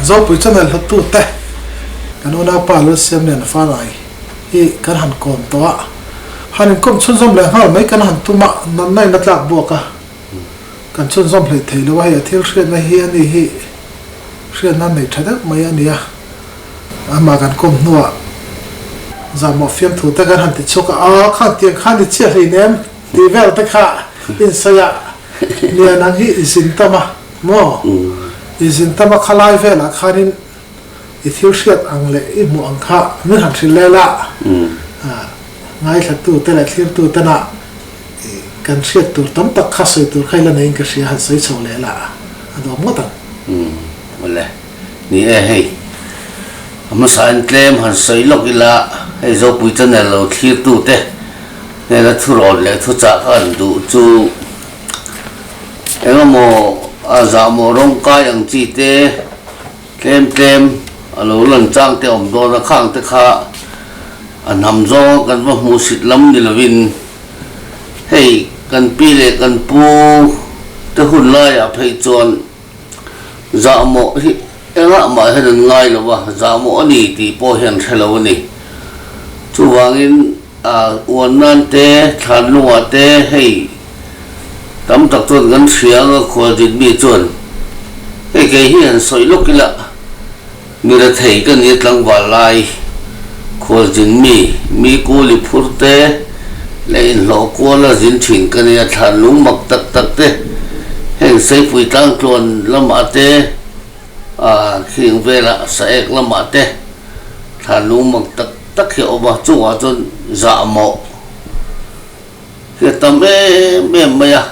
Zopui chuan Nalhawt tu te kan unau pa Lalsiam leh an falai hi kan han kawm tawh a, han inkawm chhunzawm leh nghal mai kan han tum a, natna in a tlak buak a, kan chhunzawm hlei thei lo a, hei a thil hriatna hi a ni hi hriatna nei tha deuh mai a ni a, amah kan kawm hnuah zan mawh fiam thu te kan han ti chhuak a, a khan tiang khan i chiah hlin em tih vel te kha insawi a, Lian ang hi i zin tam a maw? I zin tam a khalai velah khanin i thil hriat ang leh i hmuh ang kha min han hrilh leh la. Ngaithlatute leh thlirtute na kan hriat tur tam tak kha sawi tur kha i la neiin ka hria han sawi chho leh la. A dawm ngawt ang. Ni e hei. A hmasa in tlem han sawi lawk ila hei Zopui channel lo thlir tu te nena thu rawn leh thu chah kha an duh chu eng emaw a zah maw rawng kai ang chi te tlem tlem a lo lan chang te awm dawn a khang te kha a hnam zawng a kan va hmuh sit lam ni lo in hei kan pi leh kan pu te hun lai ah phei chuan Zah mawh hi engah mah hian an ngai lo va, zah mawh a ni tih pawh hian hre lo a ni. Chuvangin uan nan te, thlan lunga te hei tam tak chuan kan hria anga khual dinmi chuan hei kei hi han sawi lawk ila Mira thei ka nih tlangval lai khual zin mi mi kuli phur te leh inhlawh kuala zin thin ka nia thlan lung mak tak tak te heng saipui tlangtluan lamah te ah khiring vela saek lamah te thlan lung mak tak tak hi a awm a chungah chuan zahmawh hi a tam em em mai a.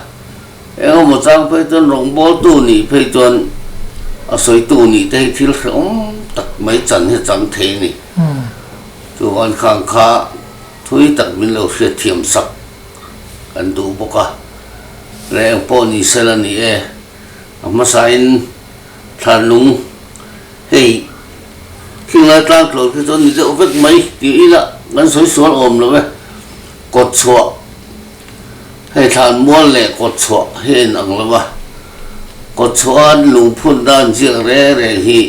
Engemaw chang phei chuan rawngbawltu nih phei chuan a sawitu nih te hi thil hreawm tak mai chan hi a chang thei a ni. Chu Vankhang kha thui tak min lo hriatthiam sak kan duh bawk a, leh eng pawh ni sel a ni e, a hmasain Thlarnung hei thlinglai tlangtlawr khi chuan ni deuh vek mai tih ila kan sawi sual awm lo e, kawtchhuah Hei thlan mual leh kawt chhuah hi a inang lo va, kawt chhuah a an lungphun dan ziak re re hi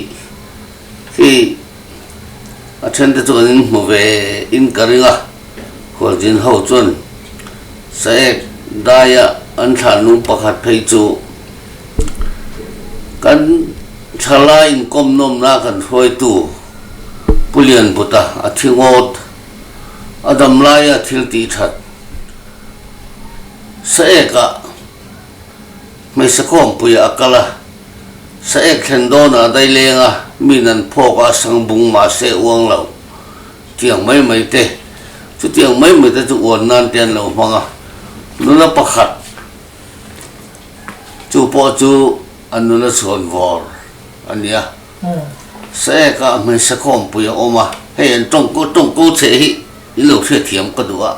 khi a thente chu kan inhmu ve in ka ring a, Hualzin ho chuan Saek Daia an thlan lung pakhat phei chu kan thlala inkawmnawmna kan hruaitu Pu Lianputa a thi ngawt a dam laia thil ti that. Saek ah hmeichhe khawmpuia a kal a, Saek thlen dawn ah a dai leng a, mi nan phawk a, sangbung mahse uang lo tiang mai mai te, chutiang mai mai te chu uan nan te an lo hmang a, nula pakhat chu pawh chu a nula chhuan vawr a nia. Saek ah hmeichhe khawmpui a awm a, hei an tawngkaw tawngkaw cheh hi i lo hriatthiam ka duh a,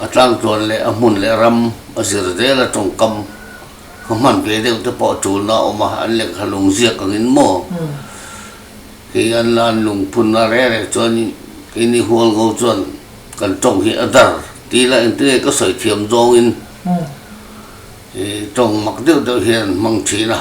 a tlangtuan leh a hmun leh ram a zir zel a, tawngkam khaw hman ve deuh te pawh a tul na a awm a, an lengha lung ziak ang in maw? Kei an la an lung phun na reh reh chuan i kei ni hual ngo chuan kan tawng hi a dar ti la engti nge ka sawi thiam zawng in i tawng mak deuh deuh hian an hmang thin a.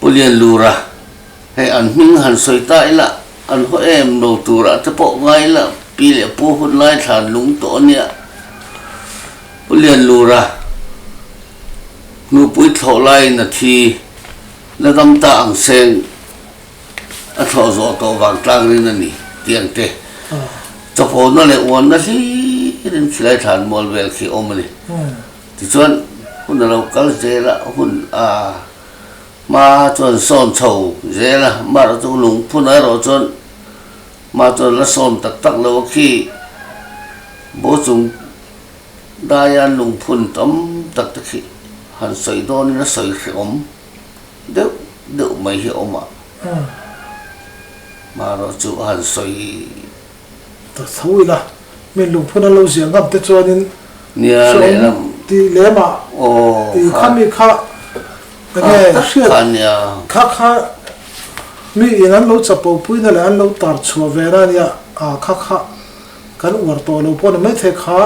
Pu Lianlura, Hei an hming han sawi ta ila, an haw em lo turah te pawh ngai ila, pi leh pu hun lai thlan lung tawh a nia. Pu Lianlura, Hnupui thlawh laiin a thi, na dam ta ang seng a thlawh zawh tawh vang tlang rin a ni, tih ang te. Chawpawna leh uanna hlirin khilai thlan mual vel khi a awm a ni. Tichuan hun a lo kal zel a, hun a. ma chuan sawn chho zel a, Mark chu lungphun a erawh chuan ma chuan la sawn tak tak lo a khi, bo chung daian lungphun tam tak te khi han sawi dawnin a sawi hreawm deuh deuh mai hi a awm a, ma erawh chu a han sawi. ta tho ila min lungphun an lo ziah ngam te chuanin sawm tih leh mah tih kha mi kha enge hriat kha kha mi in an lo chapo pui na leh an lo tar chhuah ve na nia ah kha kha kan uar tawh lo pawh ni maithei kha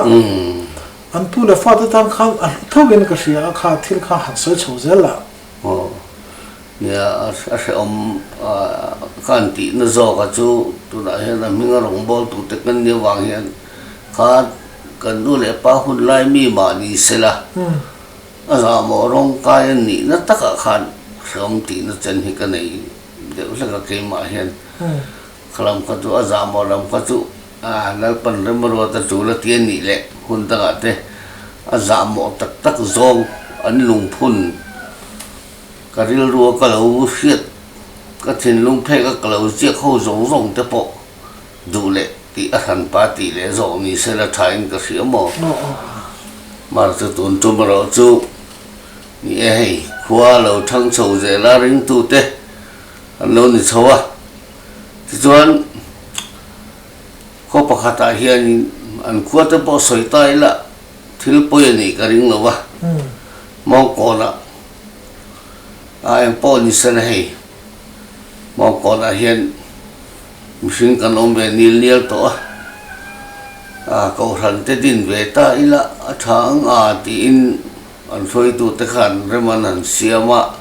an pu leh fa te tan khan a hlu theuhin ka hria a kha thil kha han sawi chho zel la. Aw, nia a hrehawm a ka han tihna zawkah chu tunah hian a hming a rawngbâwl tur te kan nih avang hian kha kan nu leh pa hun lai mi mah ni sela a zahmawh rawng kai a nihna takah khan hrehawm tihna chen hi ka nei deuh hlek a keimah hian. Kha lam kha chu a zah maw lam kha chu Lalpan Remarawta chu la ti a nih leh hun dangah te a zah mawh tak tak zawng an lungphun ka rilrua ka lo hriat ka thinlung phek a ka lo ziak ho zawng zawng te pawh duh leh tih a hran pa tih leh zawh ni se la tha in ka hria maw mar chu tun tum erawh chu ni e hei khua lo thang chho zela ringtute. An lo ni chho a, tichuan khaw pakhatah hianin an khua te pawh sawi ta ila thil pawi a nih ka ring lo va, Mawngkawnah a eng pawh ni se na hei, Mawngkawnah hian mihring kan awm ve nil nial tawh a, a kohhran te din ve ta ila a tha ang a tiin, An hruaitute khan rem an han siam a,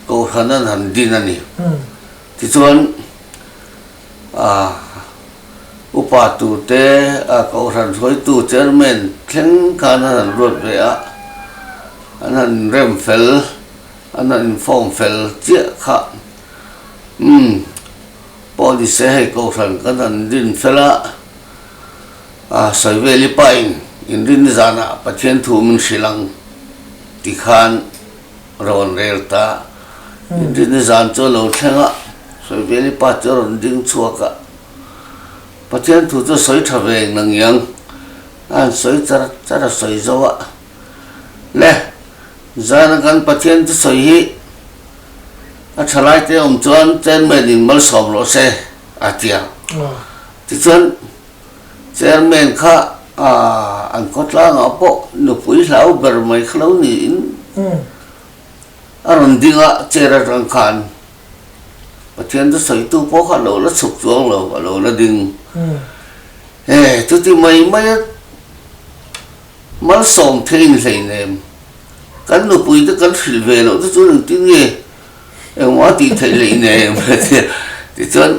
kohhran an han din a ni. Tichuan, upa tu te, kohhran hruaitu chairman thleng khan an han luat ve a, an han inrem fel, an han inform fel chiah kha. Umm, pawh ni se hei, kohhran kan han din fel a. Saiveli pain in rin zan ah Pathian thu min hrilh ang ti khan rawn rel ta. In rin i zan chu a lo thleng a, Saiveli pa chu a rawn ding chhuak a. Pathian thu chu sawi tha ve ang nang i ang, a han sawi char char a sawi zo a. Le, zan a kan Pathian chu sawi hi a thalai te awm chuan chen men in malsawm rawh se a ti ang. Tichuan, Chairman kha an khawtlangah pawh nupui hlau ber mai kha lo niin a rawn ding a, chair atang khan Pathianta sawitu pawh kha a lo la chhuk chuang lo, a lo la ding. He chuti mai maia malsawm thei inhleinem kan nupui te kan hrilh ve loh te chuan engtin nge engmah a tihtheih leinem? Tichuan,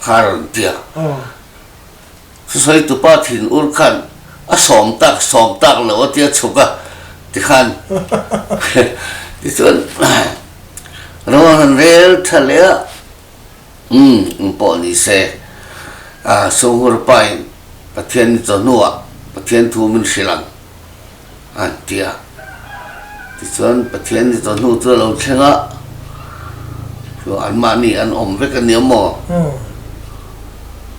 kha rawn tia. Sasaitupa thin ur khan a sawm tak sawm tak lo a tia chhuk a ti khan tichuan Ramon han rel tha leh a umm in pawh ni se a Songhurpa in Pathian ni chawhnu ah Pathian thu min hrilh ang a ti a. Tichuan Pathian ni tawh hnu chu a lo thleng a, chuan anmahni an awm vek a nia maw?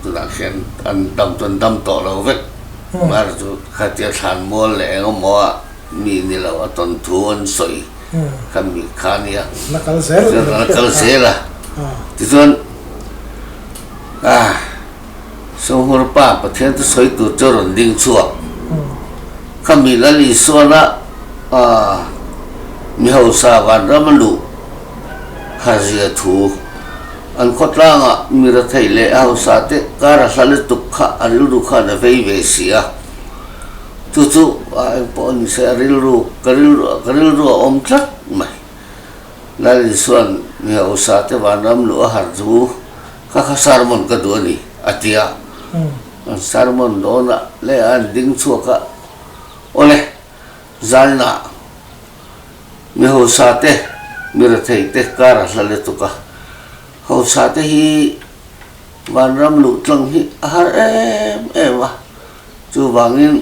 Tunah khian an dam chuan dam tawh lo vek. Mary chu khatia thlan mual leh eng emaw a mi ni lo a tawn thu an sawi khan mi kha a nia. Na kal zel a, tichuan a. Sohmawr pa Pathianta sawi tur chu rawn ding chhuak. Kha mi lal Isuala mi hausa vanram a luh kharzia thu an khawtlanga mi rathei leh a hausa te kar a hla lutuk kha a rilru khan a vei ve si a. Chu chu ah eng pawh a ni se a rilru ka rilru ka rilru a awm tlat mai. Lal Isuan mi hausa te vanram luh a har chu. Ka kha sermon ka duh a ni, a ti a. An sermon dawnah leh an ding chhuakah awle zalnah mi hausa te, mi rethei te kar a hla let tuk a. Hausa te hi vanram luh tlang hi a har em em a, chuvangin,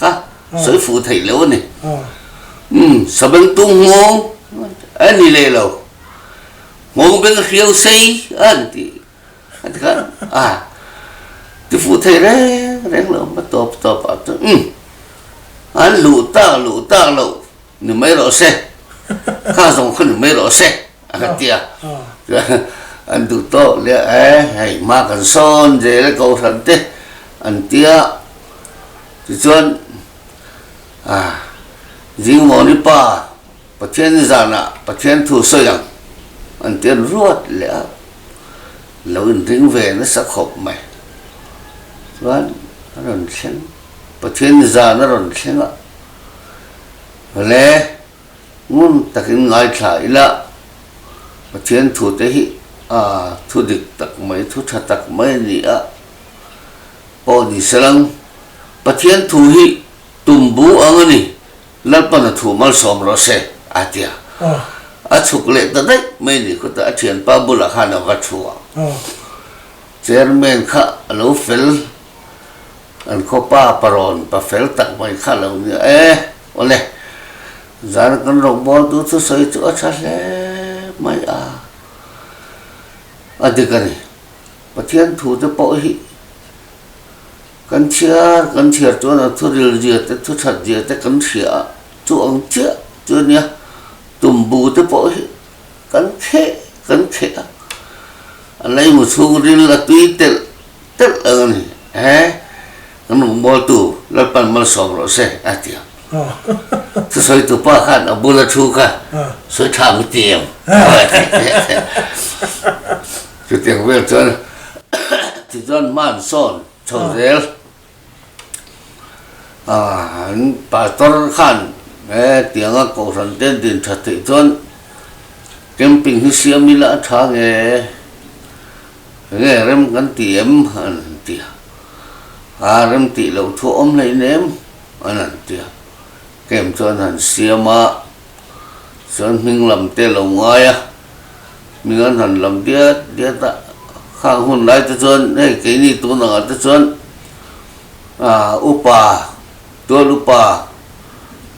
Ka sawi fuh theih loh a ni. Umm, Sabeng tum nghawng a ni leh lo. Nghawng beng hriau sei a ni tih a ti khan a ti fuh theih reng reng lo. Ka tawp tawp a chuan umm, an luh tak luh tak loh ni mai rawh se. Kha zawng kha ni mai rawh se. A kha ti a. Chuan an duh tawh leh a e, hei ma kan sawn zel e Kohhran te an ti a. Tichuan Zingmawni pa Pathiani zanah Pathian thu sawi ang an ti a ni ruat leh a. An lo inring ve nasa khawp mai. Chuan a rawn thleng, Pathiani zan a rawn thleng a. Awle. Ngun takin ngaithla ila, Pathian thute hi aa thu dik tak mai, thu tha tak mai ni a, aw ni se lang. Pathian thu hi tumbu ang a ni, Lalpan a thu malsawm rawh se, aa ti a. A chhuk leh ta daih mai ni kawtah a thianpa bulah khan a va thu a. Chairman kha a lo fel, an khawpa parawn pa fel tak mai kha lo nia e. Awle, zan kan rawn bualtu chu sawi chu a tha hle mai a, a dik a ni. Pathian thute pawh hi kan chhiar kan chhiar chuan a thuril zia te thuchhat zia te kan hria ah chu ang chiah chu a nia, tumbu te pawh hi kan kheh kan kheh a, a leimu chhungril a tui telh Telh ang a ni e, kan rawn bualtu Lalpan malsawm rawh se a ti ang. Chu sawitu pa khan a bula thu kha sawi thang u ti em? Chutiang vel chuan tichuan hman sawn chho zel. Pastor khan he tianga Kohhran te din that theih chuan camping hi siam ila a tha nge, enge rem kan ti em an ti a, a rem tih loh thu a awm hlein em an han ti a, camp chuan han siam a, chuan hming lam te a lo ngai a. min an han lam diat diat a, khang hun lai te chuan hei keini tun ang ah te chuan aah upa tual upa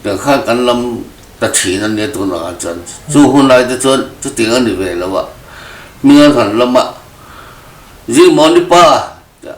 tiang khan kan lam ta thin a nia tun ang ah chuan chu hun lai te chuan chuting a ni ve lo a, min an han lam a, Zimawni pa tih a.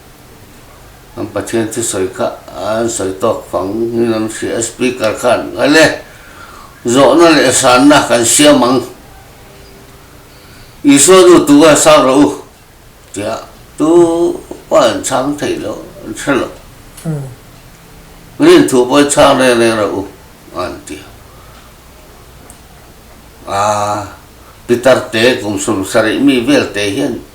An Pathian chu sawi kha an sawi tawk fang in an hria a, Speaker khan Nghale! Zawhna leh sanna kan siam ang. Isua nu tu a sang rawh u, tiah tu pawh an chhang theih loh, an hre loh. Min thu pawh chhang reng reng rawh u, an ti. A Peter te kum sum sarih mi vel te hian.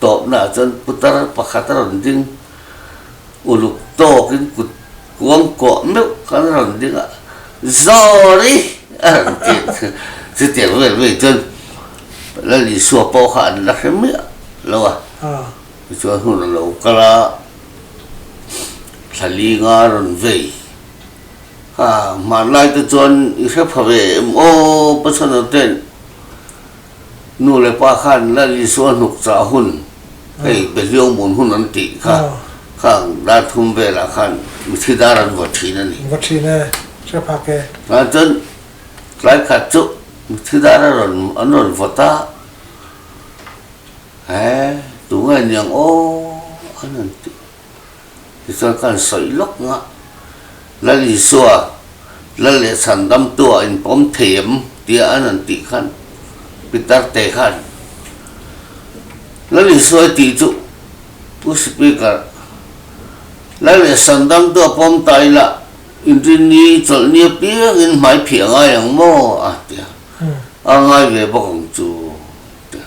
Tawpna ah chuan putar pakhat a rawn ding uluk tawk in kut kuang kuah meuh khan a rawn ding a, Sorry! a rawn ti. Chutiang vel mai chuan Lalisua pawh kha an la hre miah lo a, tichuan hun a lo kal a, thla ling a rawn vei. Hmanlai te chuan i hre pha ve em aw pasanote'n. Nu leh pa khan Lal Isua a hnuk chah hun, hei be hliau mun hun an tih kha kha dar thum velah khan mithi dar an vawt thin a ni. Vawt thin e, hre phak e. Aa chuan tlai khat chu mithi dar a rawn an rawn vawt a, he tungai niang aw an han tih. Tichuan ka han sawi lawk ngah. Lal Isua, Lal leh chhan damtua in pawm thei em? tia an rawn tih khan Pitar te khan Lal Isuai tih chu U Sipikar, Lal leh chhan damtua pawm ta ila in rin ni chawlh nia piang in hmai phih a ngai ang maw? a ti a. A ngai ve bawk ang chu, a ti a.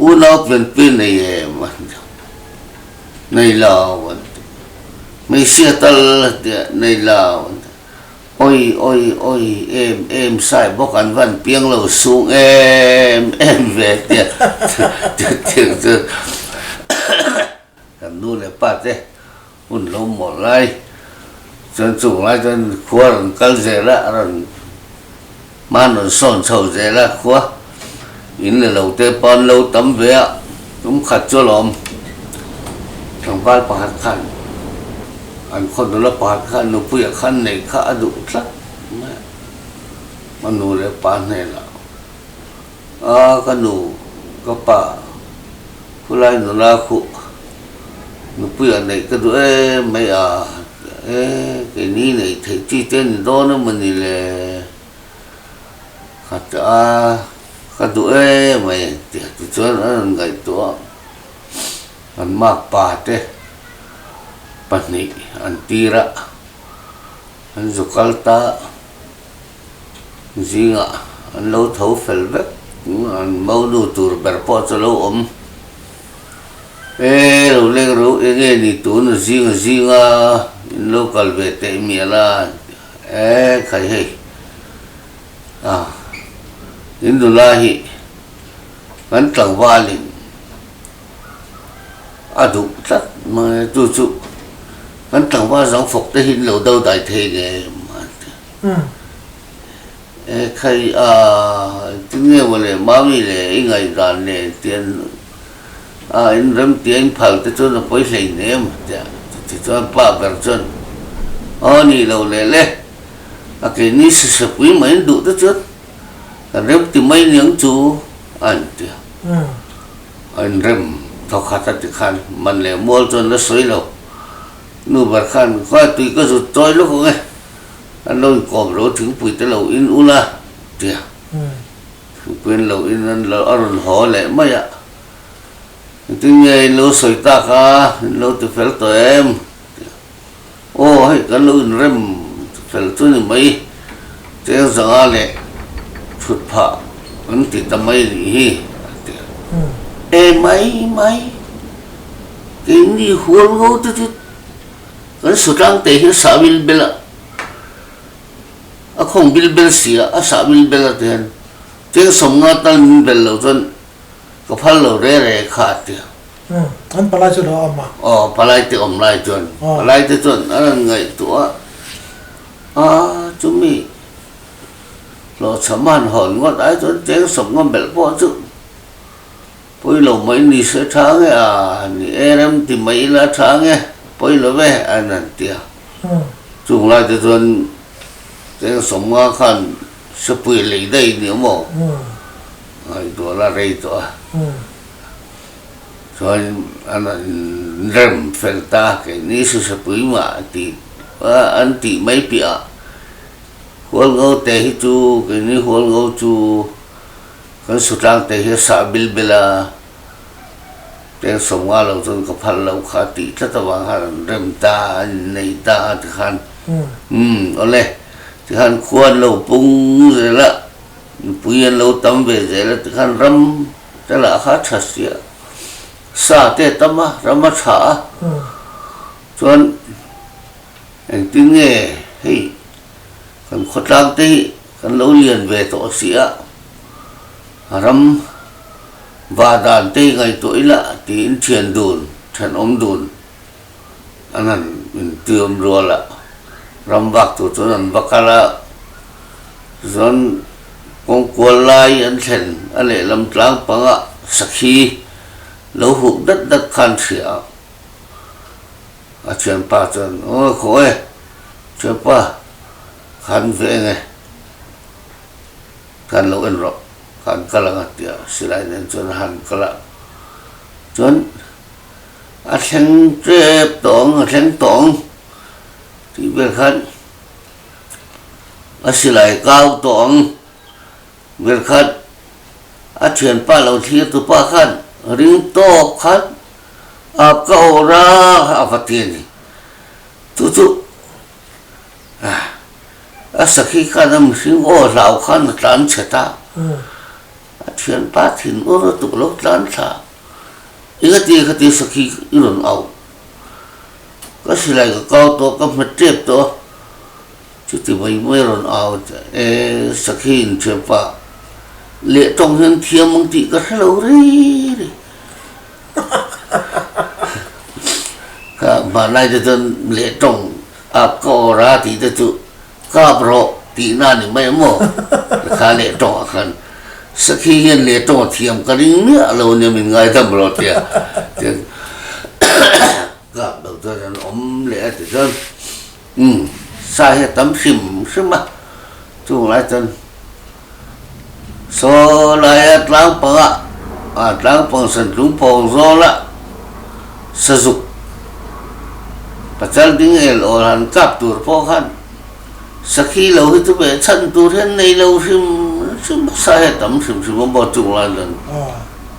U Naupin pi nei em a ni lo, nei lo an ti. Hmeichhia tal a ti a, nei lo an ti. Awi awi awi em em sai bawk an van piang lo sung em em ve a ti a, chutiang chuan Kan nu leh pa te hun lo mawlh lai chuan chung lai chuan khua rawn kal zel a, a rawn hman rawn sawn chho zel a khua in leh lo te pawh an lo tam ve a, tum khat chu a lo awm tlangval pakhat khan an khaw nula pakhat khan nupuia khan neih kha a duh tlat mai a nu leh pa hnenah. A ka nu, ka pa, khulai nuna khuh nupui a neih ka duh em mai a, e kei ni neih theih chi te ni dawn em ani le, khat a ka duh em mai a inti tichuan an rawn ngaih tawh a, kan mak pa te pahnih an tir a an zu kal ta. Zingah an lo tho fel vek. An mo lu tur ber pawh chu a lo awm. Ee, lo leng ro, eng nge ni tun zing zinga in lo kal ve teh mial a, ee khai hei. A, in nula hi kan tlangvalin a duh tlat mai a, chu chu kan tlangval zangfawkte hi in lo dodai thei nge em a ti a. He khai a engtinge maw le Mami leh i ngaihdan le tian a inremtia inphalte chuan a pawi hlein em tia chuti chuan pa ber chuan aw ni lo leh le a keini sisapui mahin duh te chuan kan remti mai niang chu a intia a inrem thawkhat a tikhan man leh mual chuan la sawi lo nu ber khan khuai tui ka zut chawi lawk ang e. a lo inkawm lo thingpui te lo in ula tia thingpui an lo in an lo a rawn haw leh mai a tin nge in lo sawi tak a in lo ti fel tawh em tia aw hei kan lo inrem fel chu ni mai cheng zanga leh chhut phah an ti ta mai a nih hi a tia e mai mai keini hualngo te chu Kan sutlang te hi a sahvil bela a khawngbil bel si a, a sahvil bel a ti hian keng sawmnga tal min bel lo chuan ka phal lo re re kha a ti a. Umm, an palai chu lo awm a? Aw, palai te awm lai chuan palai te chuan a rawn ngaihtuah a, aa, chumi hlawhchhaman hawn ngawt ai chuan keng sawmnga belh pawh chu. Pawi lo mai ni se tha nge a, a ni e, rem ti mai ila tha nge, pawi lo ve a nan ti a. Chung lai te chuan Cheng Sawmnga khan Sapuia lei daih ni awm aw ngaih duah la rei tawh a, chuanin a nan rem fel ta, kei ni se Sapui mah a ti a, an tih mai piahah Hualngo te hi chu, kei ni Hualngo chu Kan su tlangte hi a sah bil bil a, tel sawm nga lo chuan ka phal lo kha tih tlat avang khan an rem ta a, an innei ta a tikhan umm awle tikhan khua an lo pung zel a, mipui an lo tam ve zel a tikhan ram te lah kha tha sia sa te a tam a, ram a tha a chuan engtin nge hei kan khawtlangte hi. Kan lo lian ve tawh a si a, a ram va dan te hi ngaihtuah ila tiin thian dun, thenawm dun an han intuiawm rual a, ram vak tur chuan an va kal a, tichuan kawng kual lai an thlen a lehlam tlang panga sakhi lo huk dat dat khan hria ang, a thianpa chuan aw khaw e thianpa Khan ve enge, kan lo en rawh, kan kal ang a tia Silai nen chuan a han kal a. Chuan a thleng tep tawh ang, a thleng tawh ang tih ber khan a silai kau tawh ang ber khan a thianpa lo thlir tu pa khan ring tawp khan Ap ka awrh a, a va ti a ni. Chu chu. a sakhi khan a mihring aw hlau khan a tlan chhet a a thian pat thin ur ur tuk a lo tlan thla i kha ti i kha ti sakhi i rawn auh ka silai ka kau tawh ka hmet tep tawh a chuti mai mai a rawn au e sakhi in thianpa leh tawng hian thiam ang tih ka hre lo ri ri. Kâp nghah lai te chuan leh tawng âp ka awr a tih te chu kâp rawh tihna a ni mai a maw? Ka kha leh tawngah khan Sakhi hian leh tawngah thiam ka ring miah lo nia min ngaidam rawh tia chuan kâp lo chuan an awm leh a ti chuan Umm, sa hi a tam hrim hrim a, chung lai chuan Saw laia tlang panga, a tlang pang san tlum pawng zawla sa zuk pachal ding el awl han kap tur pawh khan sakhi lo hi chu beh chhan tur hian nei lo hrim hrim a, sa hi a tam hrim hrim a maw chung lai chuan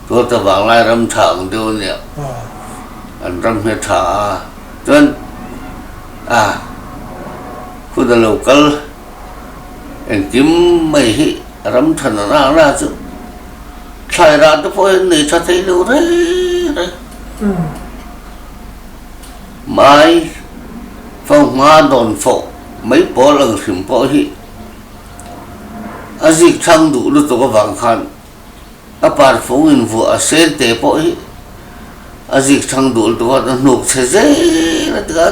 Tuartavang lai ram tha ang deuh aniah an ram hi a tha a. Chuan a kut a lo kal engkim mai hi ram than a nak nak chu thlai rah te pawh hian nei tha thei lo rei rei. Mai fo hma dawn fo mai pawl ang hrim pawh hi a zik thlang duh lutuk avang khan, A parfung in vuah a sên teh pawh hi a zikchhang dul tuk a, a hnuk chhe zel a tia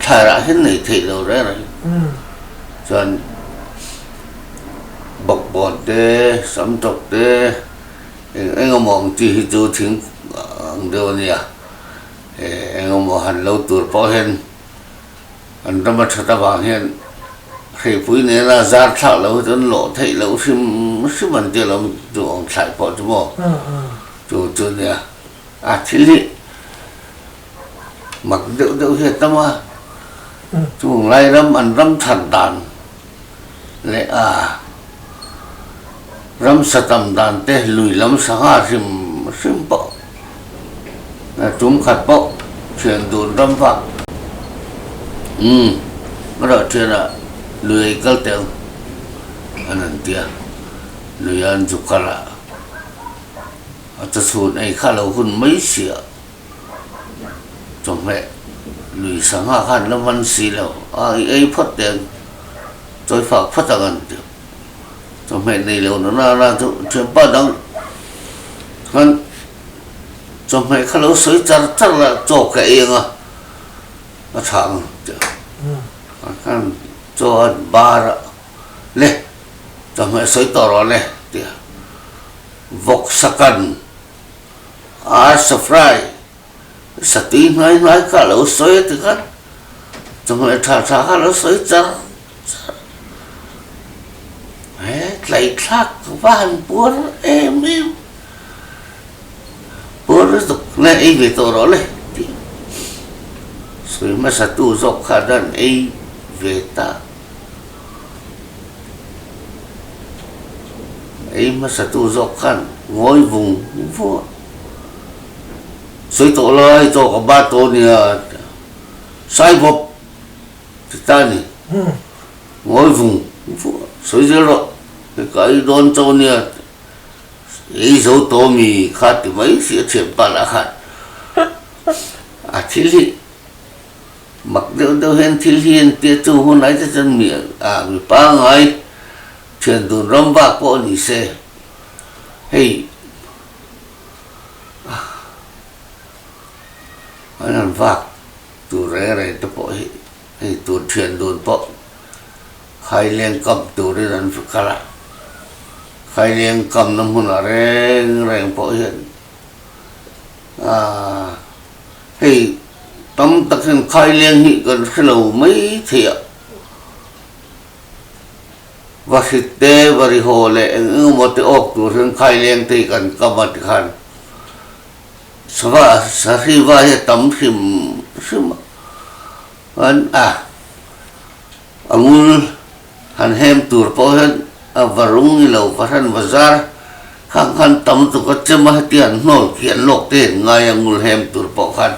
thlar ah hian nei theih lo rêr hi. Chuan bawkbawn te, sam tawk te, eng eng emaw ang chi hi chu thing ang deuh a nia. Eng emaw han lo tur pawh hian. An ram a that avang hian hreipui nena zar thlak loh hi chuan lawh theih loh hrim hrim an ti alawm chu awm thlai pawh chu maw chu chu nia a thil hi mak deuh deuh hi a tam a chung Lairam an ram that dan leh a ramsa tam dan te lui lam sangha hrim hrim pawh leh tum khat pawh thian dun ram vak umm erawh thiana lui ei kal teh ang an han ti a luia an zu kal a a chawchhun ei kha a lo hun mai sia. Chawhmeh, Lui sangha khan la man si lo a, i ei phawt teh ang, chawi fak phawt ang an ti. Chawhmeh nei lo na nana chu thianpa dang khan chawhmeh kha lo sawi char char la chaw ka eng a, a tha ang an ti a. Khan khan chaw a bar a, le chawhmeh sawi tawh rawh le, a ti a. Vawksakan. Ar Safrai, satui hngai hnai kha lo sawi a ti khat, chawhmeh tha tha kha lo sawi char char. He tlaithlak ka va han buar em em, buar na tuk na ei ve tawh rawh le tih a, sawi hmasa tu zawk kha dan ei ve ta. Ei hmasatu zawk khan ngawi vung vung a, sawi tawh lai tawh ka bat tawh nia sai bawp ti ta ni, ngawi vung vung a, sawi zel rawh ka ei dawn cho nia ei zo tawh a mi kha ti mai si a thianpalh a khan a thil hi Mak deuh deuh hian thil hi a intia chung hun aite chuan mi ah mi pangngai thian dun ram bak pawh a ni se. Hei an han vak tur rei rei te pawh hi hei tur thian dun pawh khaileng kam turin an hre kal a. Khaileng kamna hmun ah reng reng pawh hian. Hei tam tak hian khaileng hi kan hre lo mai thei a, va hrit te va ri haw leh eng eng emaw te awk tur hian khaileng te hi kan kam a ti khan sava sahriva hi a tam hrim hrim a, chuan a. A ngul han hem tur pawh hian a va rung i lo, va hran va zar khang khan tam tuk a chem a, heti han hnawl kian lawk te in ngai a ngul hem tur pawh khan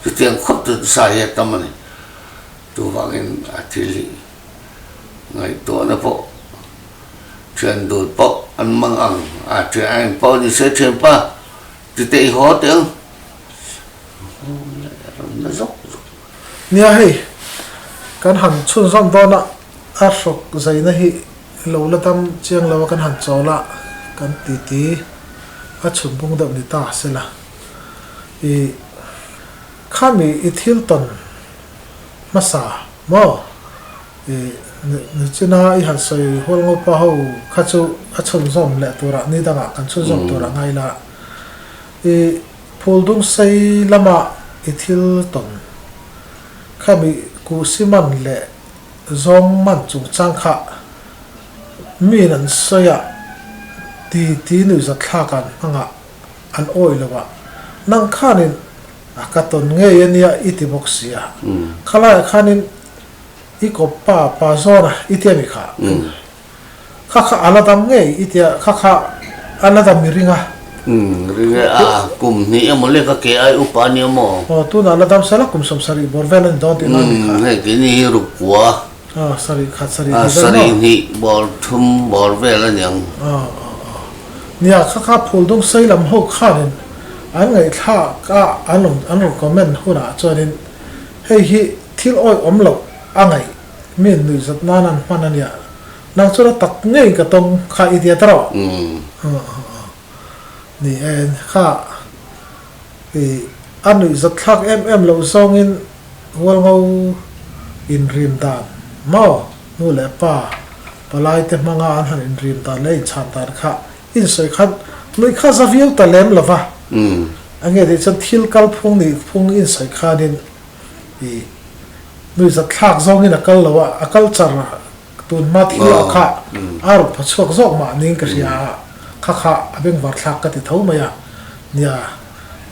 chutiang khawp chu sa hi a tam a ni. Chuvangin a thil hi ngaihtuahna pawh thian dul pawh an mang ang, a thian a en pawh a ni se thianpa titei haw teh ang, a hung leh a ram na zawk zawk. Nia hei, kan han chhunzawm dawn a, a hrok zaina hi lo la dam chiang lo a, kan han chawl a kan titi a chhunpung deuh ni ta se la. I khami i thil tawn hmasa maw? I Nuchina i han sawi hual ngawt pah ho kha chu a chhunzawm leh turah ni dangah kan chhunzawm turah ngai la, I phuldung sei lama i thil tawn kha mi kuhsi man leh zawng man chungchang kha min an sawi a ti ti nuihzat thlak an hmangah an awih lo a, nang khanin a ka tawn ngei a nia i ti bawk si a, khalaia khanin i kawp pa pa zawnah i ti a mi kha. kha kha ala dam ngei i tia kha kha ala dam i ring a ringe a kum hnih emaw le ka ke ai upa nia maw aw tunah la dam sala kum sawm sarih bawr vel ani dawn tih lai ni kha hei ke ni hi ruk kua a sarih khat sarih hnih vel maw sarih hnih bawr thum bawr vel ani ang a a a nia kha kha phul dum sei lam ho khanin an ngaihthlak a an rawn an rawn comment hunah chuanin hei hi thil awihawm loh a ngaih mi an nuih zawt nan an hman ania nang chuan a tak ngeiin ka tawng kha i tia ta rawh ni en kha i a nuih zawt thlak em em loh zawngin Hualngo in rim dan maw nu leh pa palai te hmanga an han in rim dan leh a in chhan dan kha in sawi khan nuih kha za viau ta lem lova ange tih chuan thil kal phung nih phung in sawi khanin i Nuihzat thlak zawngin a kal lo a, a kal char a, tunhma thil ah kha a rawn pha chhuak zawk mahni ka hria a, kha kha a bengvar thlak ka ti tho mai a nia,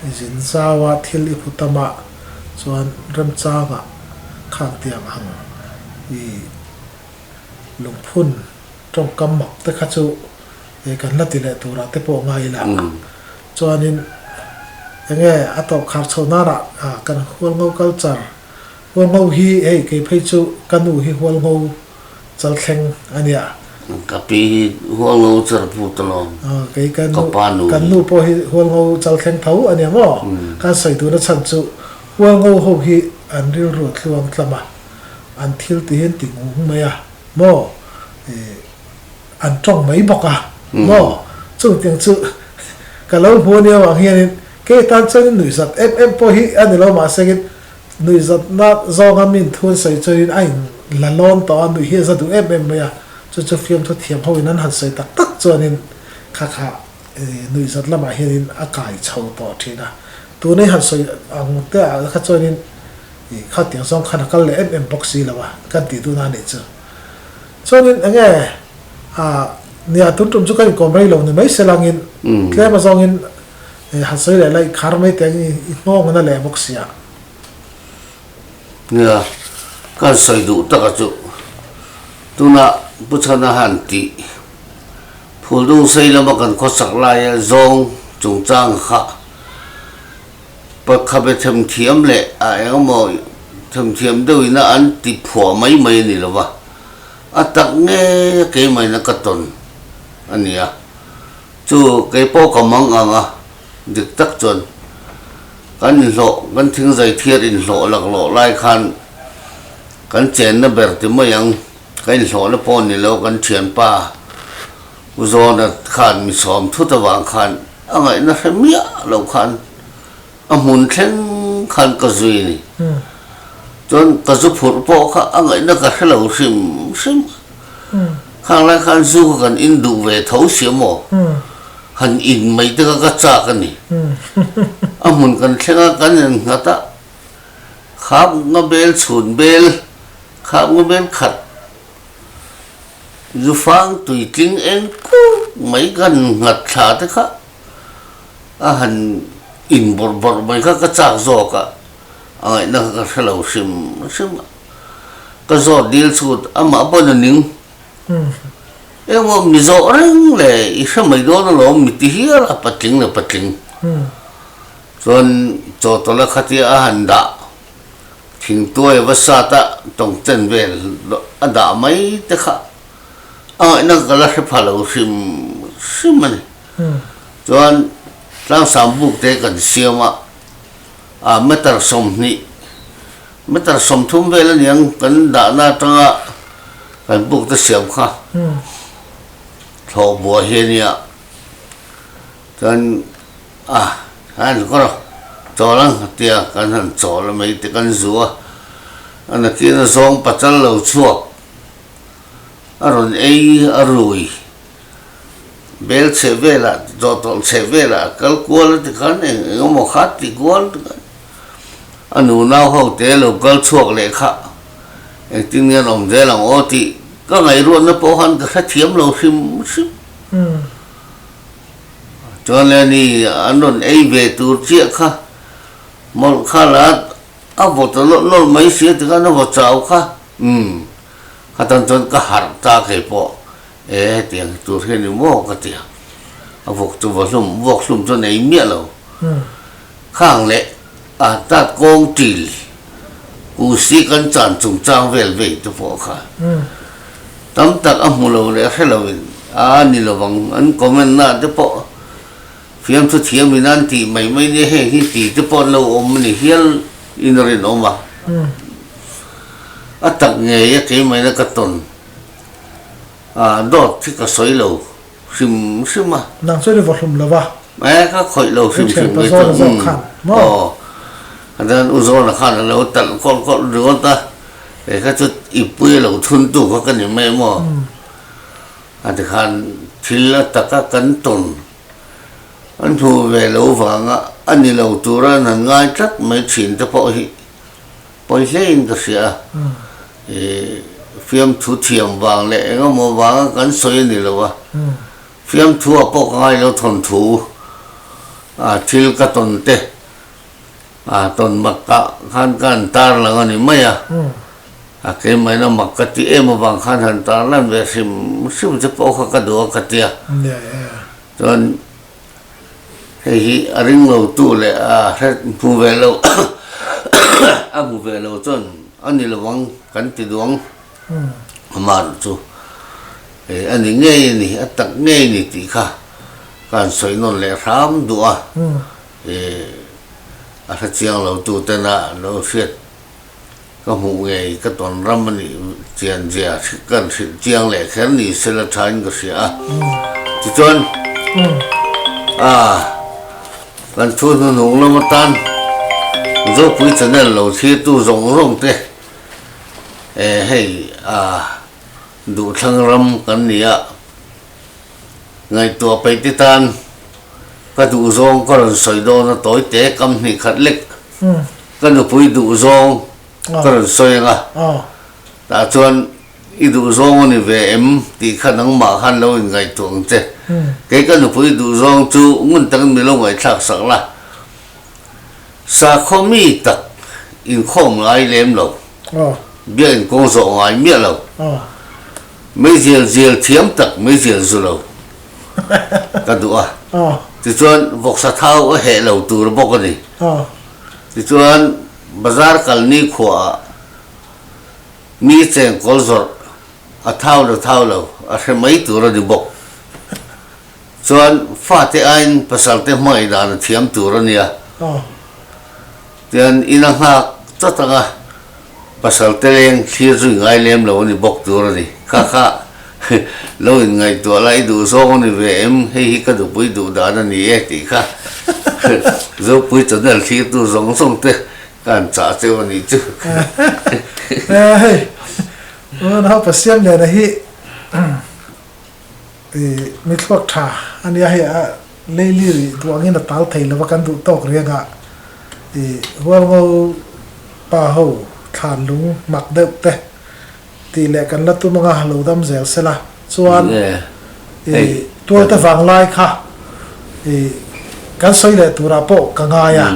i zin zau a thil i phu ta mah chuan remchang ah kha an tiang ang, i lungphun tawngkam mak te kha chu he kan la ti leh tur ah te pawh ngai ila, chuanin enge a tawngkhar chho nan ah kan hual ngo kal char. Hual ngo hi hei kei phei chu ka nu hi hual ngo char thleng a nia. Ka pi hi hual ngo char put a lawm. Aw kei ka nu kan nu pawh hi hual ngo char thleng tho a nia maw? Kan sawi tuna chhan chu hual ngo ho hi an rilru tluang tlam a, an thil tihin ti ngung mai a maw? An tawng mai bawk a maw? Chumi tiang chu ka lo hmu a nia vang hianin kei tan chuanin nuihzat em em pawh hi a ni lo mah sengin nuihzatna zawnga min thu an sawi chuanin a in la lawn tawh a, nuih hi a za duh em em mai a, chu chu fiamthu thiam ho in an han sawi tak tak chuanin kha kha nuihzat lamah hianin a kai chho tawh thin a, tun hi han sawi ang te ah kha chuanin kha tiang zawng khan a kal leh em em bawk si lo a kan tih dun a nih chu. Chuanin enge a nih a tun tum chu ka inkawm rei lo ni mai se langin tlema zawngin he han sawi leh la inkhar mai te angin i nghawng ngun a leh bawk sia. Nia, kan sawi duh taka chu tuna Pu Chhana han tih Phuldung sei lama kan khawsak laia zawng chungchang kha, Pa Khabe themthiam leh a engemaw themthiam deuhina an ti phuah mai mai a ni lo va, a tak ngeiia kei maina ka tawn a nia. Chu kei pawh ka mang ang a, dik tak chuan kan inhlawh, kan thing zaithiar inhlawh lak lawh lai khan kan chenna ber ti mai ang, ka inhlawhna pawh a ni lo kan thianpa. U Zona khan mi sawm thut avang khan a ngaihna hre miah lo khan a hmun thleng khan ka zui a ni. Chuan ka zu phurh pawh kha a ngaihna ka hre lo hrim hrim a. Khang lai khan zu kha kan in duh ve tho sia maw? Han in mai te kha ka chak a ni. A hmun kan thleng a kan en nghat a, khap nga bel chhun bel, khap nga bel khat. Zufang tui tling eng kut mai kan nghat thla te kha a han in bawrh bawrh mai kha ka chak zawk a, a ngaihna kha ka hre lo hrim hrim a, ka zawt dil chhut amah pawh na ning engmaw mi zawh reng le i hre mai dawn alawm mi ti hial a patling le patling chuan chawtawla khatia a han dah. Thingtuai va sat a tawngten vel a dah mai te kha a ngaihna ka la hre pha lo hrim hrim a ni. Chuan tlangsam buk te kan siam a, a meter sawmhnih, meter sawmthum vel a niang kan dahna atanga kan buk te siam kha thlawhbua hi a nia. Chuan. A, a ni kawr a, chawl ang a tia kan han chawl a mei te kan zu a, a nakin a zawng pachal lo chhuak a rawn ei a rui bel chheh velah chaw tawlh chheh velah a kal kual a tikhan eng eng emaw khat tih kual takah a nu nau ho te a lo kal chhuak leh kha engtin nge an awm zel ang aw tih ka ngaihruatna pawh khan ka hrethiam lo hrim hrim. Chuan Lenny an rawn ei ve tur chiah kha mawlh kha la a vaw ta lawlh lawlh mai si a ti khan a vaw chau kha umm khatan chuan ka harh ta kei pawh e hetiang hi tur hi a ni maw ka ti a a vawk chu va hlum vawk hlum chuan ei miah lo kha ang leh. An tat kawng ṭil u si kan chan chungchang vel vei te pawh kha tam tak a hmu lo leh a hre lo in a ni lo vang. An comment na te pawh fiamthu thiam in an tih mai mai nia heng hi ti te pawh an lo awm a ni hial in a rin awm a. A tak ngei a kei mai na ka tawn a dawt hi ka sawi lo. hrim hrim a. Nang chuan i vahlum lo va. E ka khawih lo hrim hrim mai chuan umm. Ka thianpa zawn a zawk khan maw? Aw. A dan u zawn a khan a lo talh kawlh kawlh riawt a, e ka chu i pui a lo thun tu kha ka ni mai maw? A ti khan thil a tak a kan tawn a hnu ve lo vang a, a ni lo tura nan ngai tlat mai thin te pawh hi Pawi hlein ka hria a, i fiamthu thiam vang leh engemaw vanga kan sawi a ni lo a, fiamthua pawh ka ngailo thawn thu a, thil ka tawn te a tawn mak ta khan ka han tarlang a ni mai a, a keimahna mak ka ti em avang khan han tarlan ve hrim hrim te pawh kha ka duh a ka ti a, chuan. hei hi a ring lo tu leh a hre hmu ve lo a hmu ve lo chuan a ni lovang kan ti duang amah ruh chu hei a ni ngei a ni a tak ngei a ni tih kha kan sawi nawn leh hram duh a e a hre chiang lo tu tena an lo hriat. Ka hmuh ngei ka tawn ram a nih chian zia ka hril chiang leh kher ni se la thain ka hria a. Tichuan, kan thu hnu hnung lam atan Zopuii Channel lo thirtu zawng zawng te hei duhthlang ram kan nih a, ngaihtuah peih te tan ka duhzawng ka rawn sawi dawn a tawi te kam hnih khat lek. Ka nupui duh zawng ka rawn sawi ang a, tah chuan i duh zawng a ni ve em tih kha nangmah khan lo inngaihtuah ang che. Kei ka nupui duh zawng chu ngun takin min lo ngaihthlak sak la, sakhaw mi tak inkhawm ngai lem lo, biakinn kawng zawh ngai miah lo, meizel zel thiam tak meizel zu lo ka duh a, tichuan vawksa thau a heh lo tur bawk a ni. Tichuan, bazar kalni khuaah mi cheng kawl zawrh a thau lo thau lo a hre mai tur a ni bawk. Chuan, fate aiin pasalte hmangaih dan a thiam tur a nia. Tichuan, ina nghak chawt anga Pasal Teleng thlir chu i ngai lem lo a ni bawk tur a ni. Kha kha, lo in ngaihtuah la, i duh zawng a ni ve em, hei hi ka nupui duh dan a ni e tih kha Zopui channel thlirtu zawng zawng te ka han chah cheu a nih chu. Hei, Unau Pasiam nena hi. Ih, mitluak tha a nia hei a, Leili rih duh angin a tal thei lova kan duh tawk riangah ih, Hualngo pa ho thlan lung mak deuh te tih leh kan la tum anga lo dam zel sela chuan ih, tualte vang lai kha ih, kan sawi leh turah pawh ka ngai a,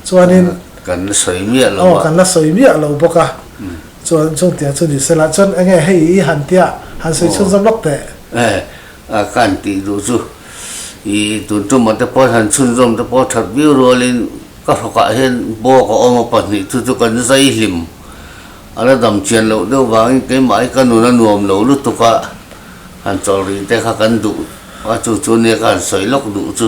chuanin kan la sawi miah lo a, kan la sawi miah lo bawk a, chuan chungtiang chu ni sela chuan enge hei i han tia han sawi chhun zawm lawk teh. A ka han tih duh chu i tun tumah te pawh han chhunzawm te pawh that viau rualin ka hrawkah hian bawk a awm a pahnih thu chu kan zai hlim a la damchian loh deuh vangin keimah hi ka nun a nuam lo lutuk a han chawlh rih te kha kan duh a chu chu nia ka han sawi lawk duh chu.